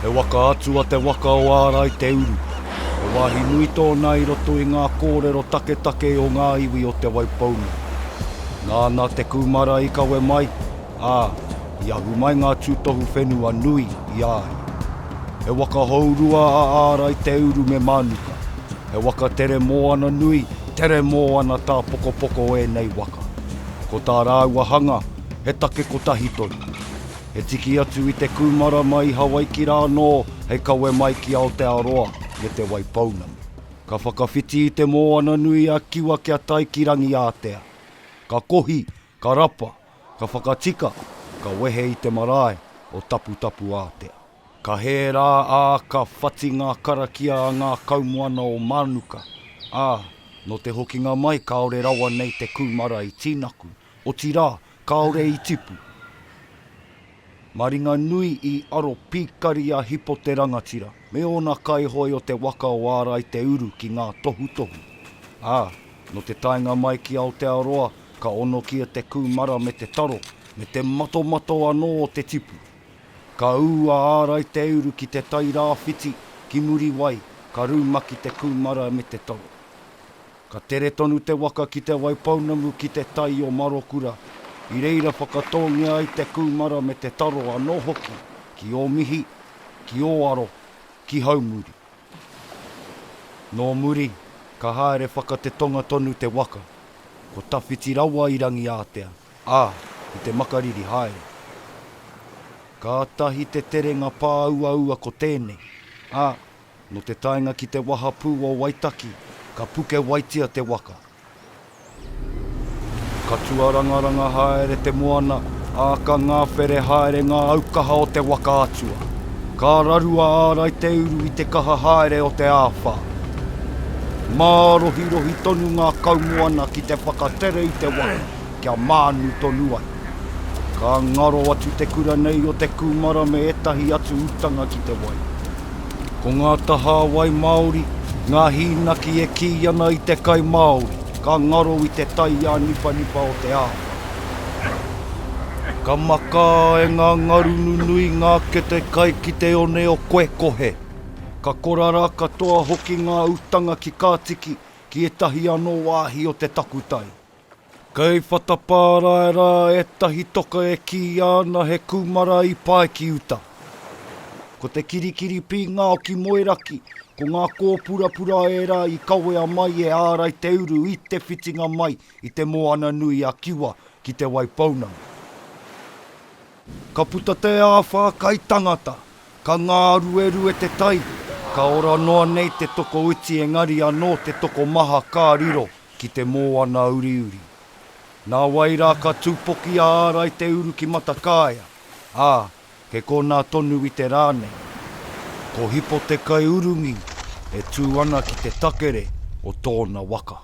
He waka atu a te waka o Ārai te uru. He wāhi nui tōna i roto i ngā kōrero taketake o ngā iwi o Te Waipounga. Nāna te kūmara i kawe mai, ā, i ahu mai ngā tūtohu whenua nui i a ia. He waka hourua a Ārai Te Uru me Mānuka. He waka tere moana nui, tere moana tāpokopoko ēnei waka. Ko tā rāua hanga, he take kotahi tonu. He tiki atu i te kūmara mai i Hawaiki rā anō hei kawe mai ki Aotearoa me Te Wai Pounamu. Ka whakawhiti i te moana nui a Kiwa kia tae ki Rangiātea. Ka kohi, Ka rapa, ka whakatika, ka wehe i te marae o Taputapuātea. Ka hē rā, ā, ka whati ngā karakia a ngā kaumoana o Mānuka, ā, nō te hokinga mai kāore rawa nei te kūmara i tīnaku, otirā, kāore i tipu. Maringanui i aro pīkari a Hipo te rangatira me ōna kaihoe o te waka o Ārai Te Uru ki ngā tohutohu, ā, nō te taenga mai ki Aotearoa ka onokia te kūmara me te taro me te matomato anō o te tipu. Ka ū a Ārai Te Uru ki te tai rāwhiti ki Muriwai ka rūmaki te kūmara me te taro. Ka tere tonu te waka ki Te Waipounamu ki te tai o Marokura, i reira whakatōngia ai te kūmara me te taro anō hoki ki Ōmihi, ki Ōaro, ki Haumuri. Nō muri, ka haere whakatetonga tonu te waka, ko tawhiti rawa i Rangiātea, ā, i te makariri haere. Kātahi te terenga pāuaua ko tēnei, ā, Nō te taenga ki te wahapū o Waitaki, ka pukewaitia te waka. Ka tuarangaranga haere te moana, ā, ka ngāwhere haere ngā aukaha o te waka atua. Ka raru a Ārai Te Uru i te kaha haere o te āwhā. Mārohirohi tonu ngā kaumoana ki te whakatere i te waka. kia mānu tonu ai. Ka ngaro atu te kura nei o te kūmara me ētahi atu utanga ki te wai. Ko ngā tahā wai māori, ngā hīnaki e kī ana i te kai māori, ka ngaro i te taiā nipanipa o te ao. Ka makā e ngā ngaru nunui ngā kete kai ki te one o Koekohe. Ka korara katoa hoki ngā utanga ki Kātiki, ki ētahi anō wāhi o te takutai. Kei Whatapārae rā ētahi toka e kīia ana he kūmara i pae ki uta. Ko te kirikiri pīngao ki Moeraki, ko ngā kōpurapura ērā i kawea mai e Ārai Te Uru i te whitinga mai i te Moana nui a Kiwa ki Te Waipounamu. Ka puta te āwhā kai tangata, ka ngāruerue te tai, ka ora noa nei te toko uti engari anō te tokomaha ka riro ki te mōana uriuri. Nā wai rā ka tūpoki a Ārai Te Uru ki Matakaea, ā, he konā tonu i te rā nei. Ko Hipo te kaiurungi e tū ana ki te takere o tōna waka.